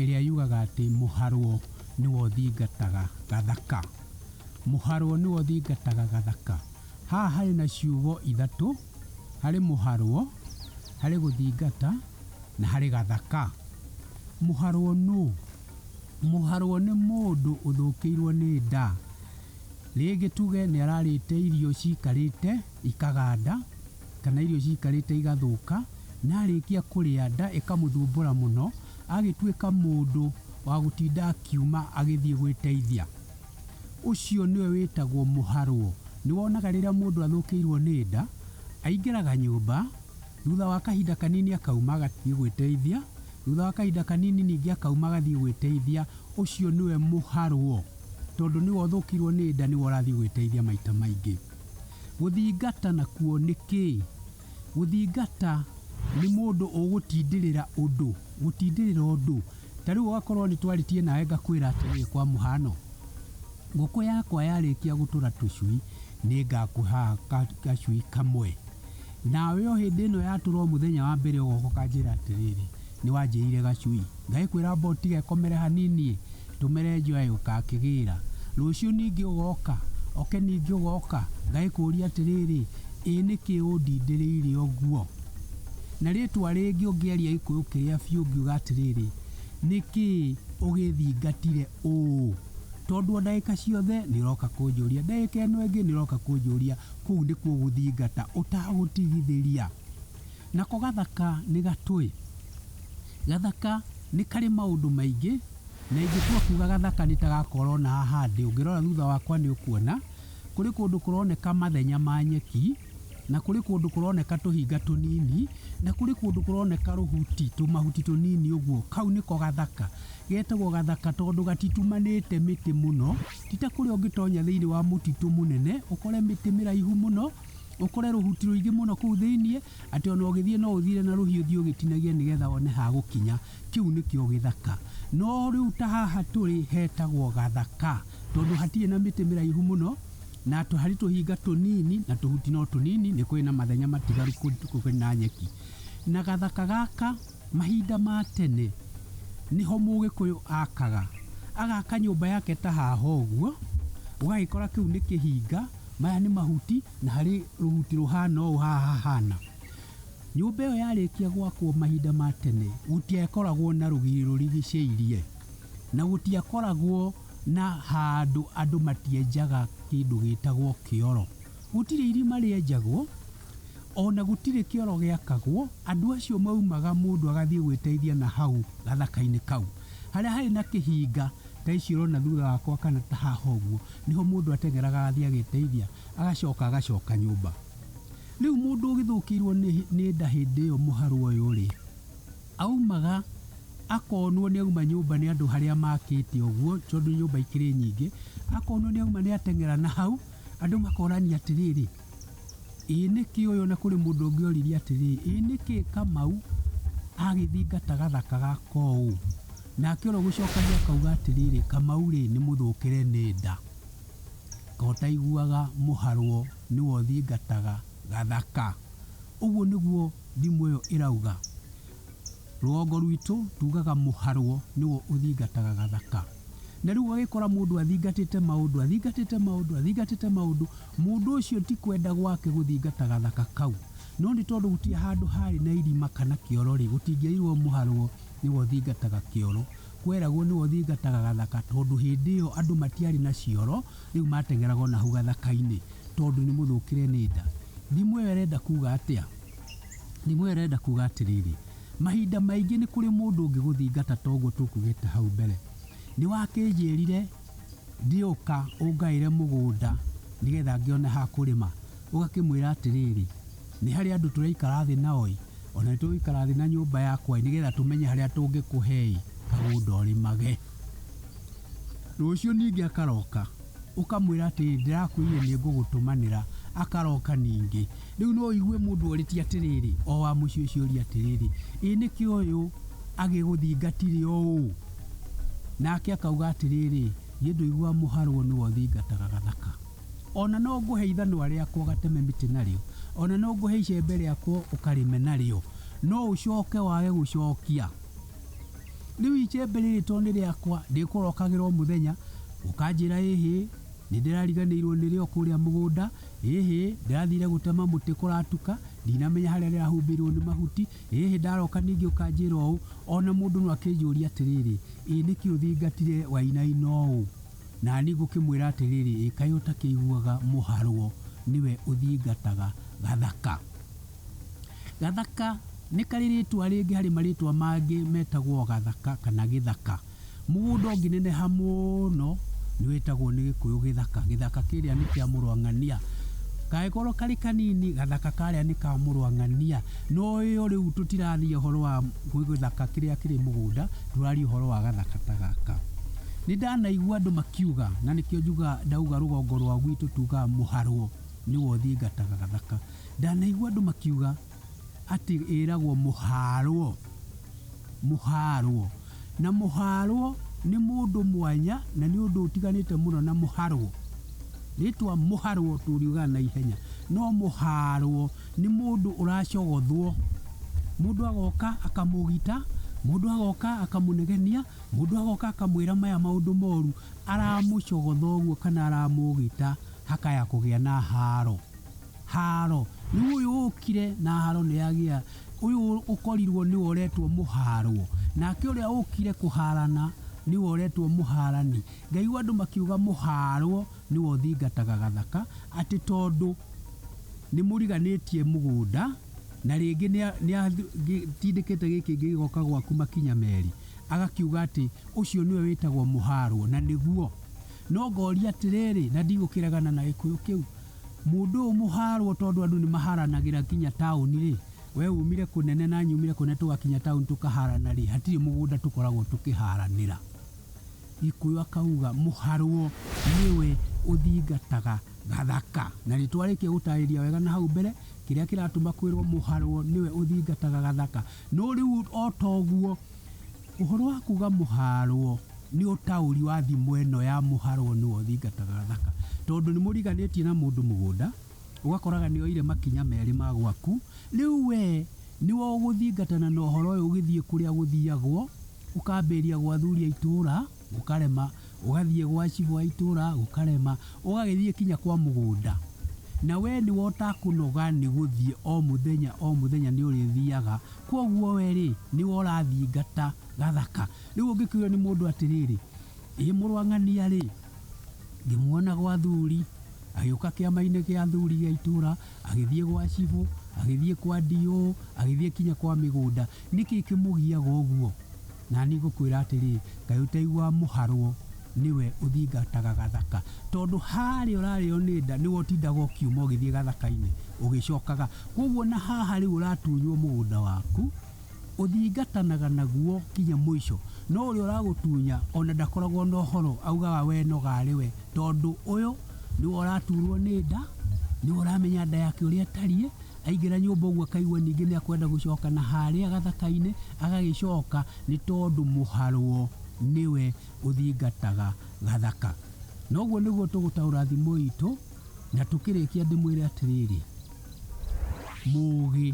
ĩrĩa yugaga atĩ mũharwo nĩwe ũthingataga gathaka. Mũharwo nĩwe ũthingataga gathaka. Haha harĩ na ciugo ithatũ, harĩ mũharwo, harĩ gũthingata na harĩ gathaka. Mũharwo nũ? Mũharwo nĩ mũndũ ũthũkĩirwo nĩ nda. Rĩngĩ tuge nĩararĩte irio cikarĩte ikaganda. kana irio ciikarĩte igathũka, na arĩkia kũrĩa nda ĩkamũthumbũra mũno, agĩtuĩka mũndũ wa gũtinda akiuma agĩthiĩ gwĩteithia. Ũcio nĩwe wĩtagwo mũharwo. Nĩ wonaga rĩrĩa mũndũ athũkĩirwo nĩ nda, aingĩraga nyũmba, thutha wa kahinda kanini akauma agathiĩ gwĩteithia, thutha wa kahinda kanini ningĩ akauma agathiĩ gwĩteithia, ũcio nĩwe mũharwo. Tondũ nĩwe ũthũkĩirwo nĩ nda nĩwe ũrathiĩ gwĩteithia maita maingĩ. Gũthingata nakuo nĩ kĩĩ? Gũthingata nĩ mũndũ ũgũtindĩrĩra ũndũ, gũtindĩrĩra ũndũ. Ta rĩu ũgakorwo nĩ twaritie nawe ngakwĩra atĩrĩrĩ kwa mũhano, ngũkũ yakwa yarĩkia gũtũra tũcui nĩ ngakũha gacui kamwe. Nawe o hĩndĩ ĩno yatũra o mũthenya wa mbere ũgoka ũkanjĩra atĩrĩrĩ, nĩ wanjĩire gacui. Ngagĩkwĩra amba ũtige komere hanini ĩ. Tũmere njoya yũka akĩgĩĩra. Rũciũ ningĩ ũgooka? Oke ningĩ ũgooka? Ngagĩkũũria atĩrĩĩrĩ, Ĩ nĩkĩ ũndindĩrĩire ũguo? Na rĩĩtwa rĩngĩ ũngĩaria Gĩkũyũ kĩrĩa biũ ũngiuga atĩrĩĩrĩ, Nĩkĩ ũgĩthingatire ũũ? Tondũ o ndagĩka ciothe nĩ ũrooka kũnjũria. Ndagĩka ĩno ĩngĩ nĩ ũrooka kũnjũria. Kũu nĩkuo gũthingata ũtagũtigithĩria. Nako gathaka nĩ gatũĩ. Gathaka nĩ karĩ maũndũ maingĩ, na ingĩtua kuuga gathaka nĩ ta gaka ũrona haha ndĩ, ũngĩrora thutha wakwa nĩ ũkuona, kũrĩ kũndũ kũroneka mathenya ma nyeki, na kũrĩ kũndũ kũroneka tũhinga tũnini, na kũrĩ kũndũ kũroneka rũhuti, tũmahuti tũnini ũguo. Kau nĩko gathaka. Getagwo gathaka tondũ gatitumanĩte mĩtĩ mũno, ti ta kũrĩa ũngĩtonya thĩiniĩ wa mũtitũ mũnene, ũkore mĩtĩ mĩraihu mũno. ũkore rũhuti rũingĩ mũno kũu thĩinĩ atĩ ona ũgĩthiĩ no ũthiire na rũhiũ thiĩ ũgĩtinagia nĩgetha one ha gũkinya kĩu nĩkĩo gĩthaka no rĩu ta haha tũrĩ hetagwo gathaka tondũ hatirĩ na mĩtĩ mĩraihu mũno na tũ- harĩ tũhinga tũnini na tũhuti no tũnini nĩ kũrĩ na mathenya matigaru kũ- kũrĩ na nyeki na gathaka gaka mahinda ma tene nĩho mũgĩkũyũ akaga agaka nyũmba yake ta haha ũguo ũgagĩkora kĩu nĩ kĩhinga Maya nĩ mahuti na harĩ rũhuti rũhana ũũ haha hahana. Nyũmba ĩyo yarĩkia gwakwo mahinda ma tene gũtiakoragwo na rũgiri rũrigicĩirie na gũtiakoragwo na handũ andũ matienjaga kĩndũ gĩtagwo kĩoro. Gũtirĩ irima rĩenjagwo ona gũtirĩ kĩoro gĩakagwo, andũ acio maumaga mũndũ agathiĩ gwĩteithia na hau gathaka-inĩ kau. Harĩa harĩ na kĩhinga ta ici ũrona thutha wakwa kana ta haha ũguo, nĩho mũndũ ateng'eraga agathiĩ agĩteithia, agacoka agacoka nyũmba. Rĩu mũndũ ũgĩthũkĩirwo nĩ nĩ nda hĩndĩ ĩyo mũharũ ũyũ-rĩ, aumaga akonwo nĩ auma nyũmba nĩ andũ harĩa makĩte ũguo, tondũ nyũmba ikĩrĩ nyingĩ, akonwo nĩ auma nĩ ateng'era na hau, andũ makorania atĩrĩrĩ, Ĩĩ nĩkĩ ũyũ? Na kũrĩ mũndũ ũngĩ oririe atĩrĩ, Ĩĩ nĩkĩ Kamau agĩthingata gathaka gaka ũũ? Nake ũrĩa ũgĩcokagia akauga atĩrĩrĩ, Kamau-rĩ, nĩ mũthũkĩre nĩ nda, kaĩ ũtaiguaga mũharwo nĩwe ũthingataga gathaka? Ũguo nĩguo thimo ĩyo ĩrauga. Rũgongo rwitũ tugaga mũharwo nĩwe ũthingataga gathaka. Na rĩu ũgagĩkora mũndũ athingatĩte maũndũ, athingatĩte maũndũ, athingatĩte maũndũ, Mũndũ ũcio ti kwenda gwake gũthingata gathaka kau, no nĩ tondũ gũtirĩ handũ haarĩ na irima kana kĩoro-rĩ, gũtingĩairwo mũharwo nĩwe ũthingataga kĩoro. Kweragwo nĩwe ũthingataga gathaka tondũ hĩndĩ ĩyo andũ matiarĩ na cioro, rĩu mateng'eraga o na hau gathaka-inĩ tondũ nĩ mũthũkĩre nĩ nda. Thimo ĩyo ĩrenda kuuga atĩa? Thimo ĩyo ĩrenda kuuga atĩrĩrĩ, mahinda maingĩ nĩ kũrĩ mũndũ ũngĩgũthingata ta ũguo tũkugĩte hau mbere. Nĩ wakĩnjĩrire. Ndiũka ũngaĩre mũgũnda nĩgetha ngĩone ha kũrĩma. Ũgakĩmwĩra atĩrĩrĩ, nĩ harĩ andũ tũraikara thĩ nao-ĩ, o na nĩtũgũikara thĩ na nyũmba yakwa-ĩ, nĩgetha tũmenye harĩa tũngĩkũhe-ĩ, kagũnda ũrĩmage. Rũciũ ningĩ akaroka, ũkamwĩra atĩrĩrĩ, ndĩrakwĩrire nĩngũgũtũmanĩra. Akaroka ningĩ. Rĩu no ũigue mũndũ orĩtie atĩrĩrĩ, o wa mũciĩ ũcio ũria atĩrĩrĩ, ĩ nĩkĩ ũyũ agĩgũthingatire ũũ? Nake akauga atĩrĩrĩ, niĩ ndũigua mũharwo nĩwe ũthingataga gathaka. Ona no ngũhe ithanwa rĩakwa ũgateme mĩtĩ narĩo, ona no ngũhe icembe rĩakwa ũkarĩme narĩo, no ũcoke wage gũcokia. Rĩu icembe rĩrĩ to nĩ rĩakwa, ndĩkũrokagĩra o mũthenya, ũkanjĩra ĩhĩ, nĩ ndĩrariganĩirwo nĩrĩo kũrĩa mũgũnda, Ĩĩhĩ, ndĩrathiire gũtema mũtĩ kũratuka, ndinamenya harĩa ndĩrahumbĩirũo nĩ mahuti. Ĩĩhĩ, ndaroka ningĩ ũkanjĩra ũũ, o na mũndũ no akĩnjũũrie atĩrĩrĩ, 'Ĩ nĩkĩ ũthingatire wainaina ũũ? Na niĩ ngũkĩmwĩra atĩrĩrĩ, 'Ĩ kaĩ ũtakĩiguaga mũharwo nĩwe ũthingataga gathaka? Gathaka nĩ karĩ rĩĩtwa rĩngĩ harĩ marĩĩtwa mangĩ metagwo gathaka kana gĩthaka. Mũgũnda ũngĩneneha mũno nĩ wĩtagwo nĩ gĩkũyũ gĩthaka. Gĩthaka kĩrĩa nĩ kĩa mũrũ wa ng'ania. Kangĩkorwo karĩ kanini, gathaka karĩa nĩ ka mũrũ wa ng'ania. No ĩyo rĩu tũtiraria ũhoro wa gĩthaka kĩrĩa kĩrĩ mũgũnda, tũraria ũhoro wa gathaka ta gaka. Nĩ ndanaigua andũ makiuga, na nĩkĩo njugaga ndauga rũgongo rwa gwitũ tugaga mũharwo nĩwe ũthiĩ ngataga gathaka. Ndanaigua andũ makiuga atĩ ĩragwo mũhaarwo, mũhaarwo. Na mũhaarwo nĩ mũndũ mwanya na nĩ ũndũ ũtiganĩte mũno na mũharwo. Rĩtwa mũharwo tũriugaga na ihenya, no mũhaarwo nĩ mũndũ ũracogothwo. Mũndũ agoka akamũgita, mũndũ agoka akamũnegenia, mũndũ agoka akamwĩra maya maũndũ moru, aramũcogotha ũguo kana aramũgita hakaya kũgĩa na haaro. Haaro. Rĩu ũyũ ũũkire na haaro nĩ agĩa, ũyũ ũkorirwo nĩwe ũretwo mũhaarwo, nake ũrĩa ũũkire kũhaarana nĩwe ũretwo mũhaarani. Ngaigua andũ makiuga mũhaarwo nĩwe ũthingataga gathaka, atĩ tondũ nĩ mũriganĩtie mũgũnda, na rĩngĩ nĩ atindĩkĩte gĩkĩ kĩngĩ gĩgoka gwaku makinya meerĩ, agakiuga atĩ ũcio nĩwe wĩtagwo mũhaarwo, na nĩguo. No ngooria atĩrĩrĩ, na ndigũkĩregana na gĩkũyũ kĩu, Mũndũ ũyũ mũhaarwo tondũ andũ nĩmahaaranagĩra nginya taũni-rĩ, wee uumire kũnene na nyumire kũnene tũgakinya taũni tũkahaarana-rĩ, hatirĩ mũgũnda tũkoragwo tũkĩhaaranĩra. Gĩkũyũ akauga, Mũharwo nĩwe ũthingataga Gathaka. Na nĩtwarĩkia gũtaarĩria wega na hau mbere kĩrĩa kĩratũma kwĩrwo Mũharwo nĩwe ũthingataga Gathaka. No rĩu o ta ũguo, Ũhoro wa kuga mũhaarwo nĩ ũtaũri wa thimo ĩno ya mũharwo nĩwe ũthingataga thaka. Tondũ nĩ mũriganĩtie na mũndũ mũgũnda, ũgakoraga nĩ oire makinya merĩ ma gwaku, rĩu we nĩwe ũgũthingatana na ũhoro ũyũ ũgĩthiĩ kũrĩa gũthiagwo, ũkambĩrĩria gwathuri a itũũra. gũkarema, ũgathiĩ gwa cibũ wa itũra gũkarema, ũgagĩthiĩ kinya kwa mũgũnda, na we nĩ we ũtakũnoga nĩ gũthiĩ o mũthenya o mũthenya nĩ ũrĩthiaga, kwoguo we rĩ, nĩ we ũrathingata gathaka. Rĩu ũngĩkĩũrio nĩ mũndũ atĩrĩrĩ, ĩ mũrũ wa ng'ania rĩ, ngĩmuona gwa athuri, agĩũka kĩama-inĩ gĩa athuri gĩa itũra, agĩthiĩ gwa cibũ, agĩthiĩ kwa DO, agĩthiĩ kinya kwa mĩgũnda. Nĩ kĩĩ kĩmũgiaga ũguo? Na niĩ ngũkwĩra atĩrĩ, kaĩ ũtaiguaga mũharwo nĩwe ũthingataga gathaka? Tondũ harĩa ũrarĩo nĩ nda nĩwe ũtindaga ũkiuma ũgĩthiĩ gathaka-inĩ ũgĩcokaga. Kwoguo na haha rĩu ũratunywo mũgũnda waku, ũthingatanaga naguo nginya mũico. No ũrĩa ũragũtunya ona ndakoragwo na ũhoro, augaga we noga arĩ we. Tondũ ũyũ nĩwe ũraturwo nĩ nda, nĩwe ũramenya nda yake ũrĩa ĩtariĩ. Aingĩra nyũmba ũguo akaigua ningĩ nĩ akwenda gũcoka na harĩa gathaka-inĩ agagĩcoka nĩ tondũ mũharwo nĩwe ũthingataga gathaka. Na ũguo nĩguo tũgũtaũra thimo itũ na tũkĩrĩkia ndĩmwĩre atĩrĩrĩ, mũgĩ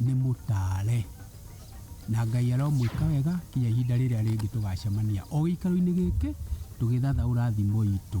nĩ mũtare. Na Ngai aromwĩka wega kinya ihinda rĩrĩa rĩngĩ tũgacemania o gĩikaro-inĩ gĩkĩ tũgĩthathaũra thimo itũ.